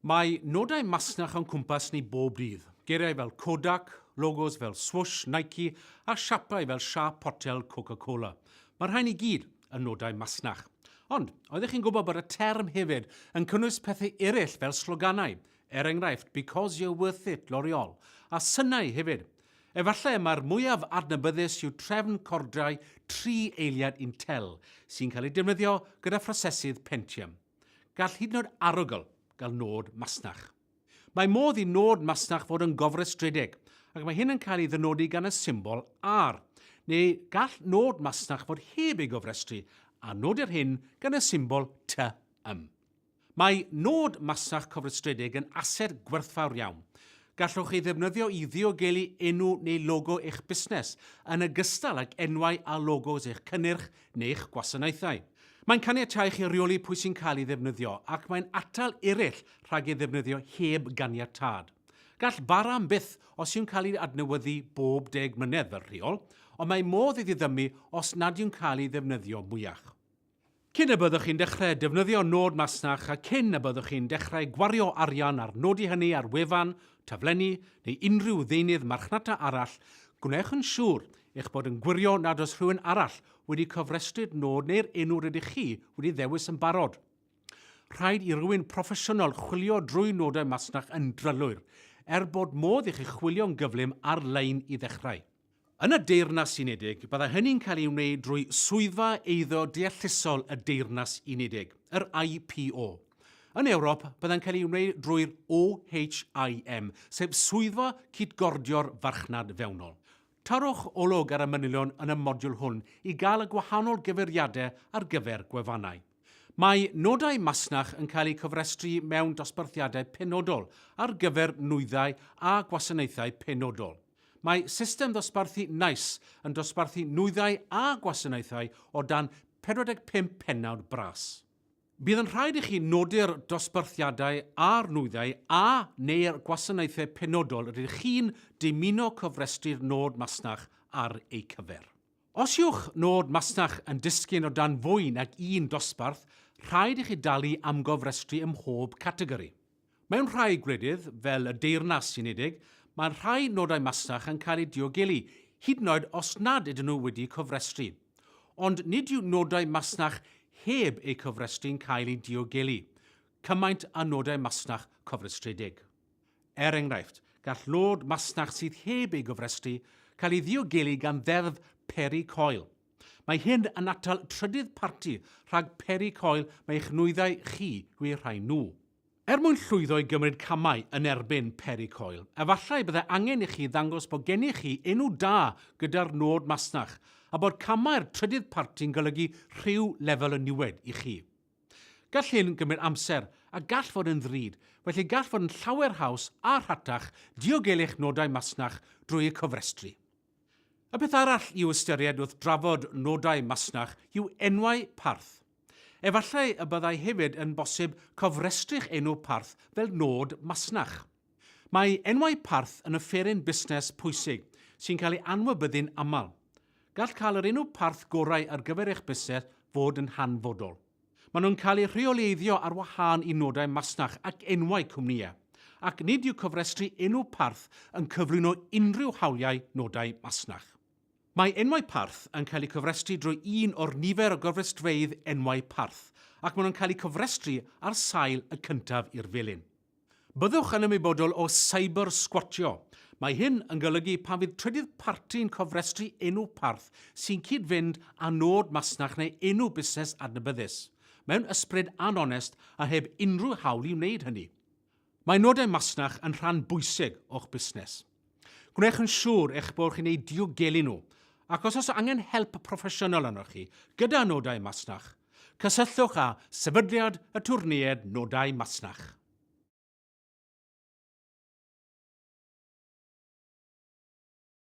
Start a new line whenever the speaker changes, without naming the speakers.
Mae nodau masnach o'n cwmpas ni bob dydd, geiriau fel Kodak, logos fel Swoosh, Nike a siapau fel siâp potel Coca-Cola. Mae'r rhain i gyd yn nodau masnach. Ond, oeddech chi'n gwybod bod y term hefyd yn cynnwys pethau eraill fel sloganau, er enghraifft Because You're Worth It, L'Oreal, a synau hefyd? Efallai y mae'r mwyaf adnabyddus yw trefn cordiau tri eiliad Intel, sy'n cael ei defnyddio gyda phrosesydd Pentium. Gall hyd yn oed arogl gael nod masnach. Mae modd i nod masnach fod yn gofrestredig, ac mae hyn yn cael ei ddynodi gan y symbol R, neu gall nod masnach fod heb ei gofrestru, a nodir hyn gan y symbol T ym. Mae nod masnach cofrestredig yn ased gwerthfawr iawn. Gallwch ei ddefnyddio i ddiogelu enw neu logo eich busnes, yn ogystal ag enwau a logos eich cynnyrch neu'ch gwasanaethau. Mae'n caniatáu chi reoli pwy sy'n cael ei ddefnyddio ac mae'n atal eraill rhag ei ddefnyddio heb ganiatâd. Gall bara am byth os yw'n cael ei adnewyddu bob deg mlynedd fel rheol, ond mae modd iddi ddymu os nad yw'n cael ei ddefnyddio mwyach. Cyn y byddwch chi'n dechrau defnyddio nod masnach a cyn y byddwch chi'n dechrau gwario arian ar nodi hynny ar wefan, taflenni neu unrhyw ddeunydd marchnata arall, gwnewch yn siŵr Eich bod yn gwirio nad oes rhywun arall wedi cofrestru'r nod neu'r enw rydych chi wedi ddewis yn barod. Rhaid i rywun proffesiynol chwilio drwy nodau masnach yn drylwyr, er bod modd i chi chwilio'n gyflym ar-lein i ddechrau. Yn y Deyrnas Unedig, byddai hynny'n cael ei wneud drwy Swyddfa Eiddo Deallusol y Deyrnas Unedig, yr IPO. Yn Ewrop, byddai'n cael ei wneud drwy'r OHIM, sef Swyddfa Cytgordio'r Farchnad Fewnol. Torrwch olwg ar y manylion yn y modiwl hwn i gael y gwahanol gyfeiriadau ar gyfer gwefannau. Mae nodau masnach yn cael eu cofrestru mewn dosbarthiadau penodol ar gyfer nwyddau a gwasanaethau penodol. Mae system ddosbarthu NICE yn dosbarthu nwyddau a gwasanaethau o dan 45 pennawd bras. Bydd yn rhaid i chi nodi'r dosbarthiadau a'r nwyddau a, neu'r gwasanaethau penodol rydych chi'n dymuno cofrestru'r nod masnach ar eu cyfer. Os yw'ch nod masnach yn disgyn o dan fwy nag un dosbarth, rhaid i chi dalu am gofrestru ym mhob categori. Mewn rhai gwledydd, fel y Deyrnas Unedig, mae rhai nodau masnach yn cael eu diogelu, hyd yn oed os nad ydyn nhw wedi cofrestru. Ond nid yw nodau masnach heb eu cofrestru'n cael eu diogelu, cymaint â nodau masnach cofrestredig. Er enghraifft, gall nod masnach sydd heb ei gofrestru cael ei ddiogelu gan Ddeddf Peri Coel. Mae hyn yn atal trydydd parti rhag peri coel mae eich nwyddau chi yw'u rhai nhw. Er mwyn llwyddo i gymryd camau yn erbyn peri coel, efallai byddai angen i chi ddangos bod gennych chi enw da gyda'r nod masnach, a bod camau'r trydydd parti'n golygu rhyw lefel o niwed i chi. Gall hyn gymryd amser a gall fod yn ddrud, felly gall fod yn llawer haws a rhatach diogelu eich nodau masnach drwy y cofrestru. Y peth arall i'w ystyried wrth drafod nodau masnach yw enwau parth. Efallai y byddai hefyd yn bosib cofrestru'ch enw parth fel nod masnach. Mae enwau parth yn offeryn busnes pwysig sy'n cael ei anwybyddu'n aml. Gall cael yr enw parth gorau ar gyfer eich busnes fod yn hanfodol. Maen nhw'n cael eu rheoleiddio ar wahân i nodau masnach ac enwau cwmnïau, ac nid yw cofrestru enw parth yn cyflwyno unrhyw hawliau nodau masnach. Mae enwau parth yn cael eu cofrestru drwy un o'r nifer o gofrestrfeydd enwau parth, ac maen nhw'n cael eu cofrestru ar sail y cyntaf i'r felin. Byddwch yn ymwybodol o cyber-sgwatio. Mae hyn yn golygu pan fydd trydydd parti'n cofrestru enw parth sy'n cyd-fynd â nod masnach neu enw busnes adnabyddus, mewn ysbryd an-onest a heb unrhyw hawl i wneud hynny. Mae nodau masnach yn rhan bwysig o'ch busnes. Gwnewch yn siŵr eich bod chi'n eu diogelu nhw, ac os oes angen help proffesiynol arnoch chi gyda nodau masnach, cysylltwch â Sefydliad Atwrneiaid Nodau Masnach.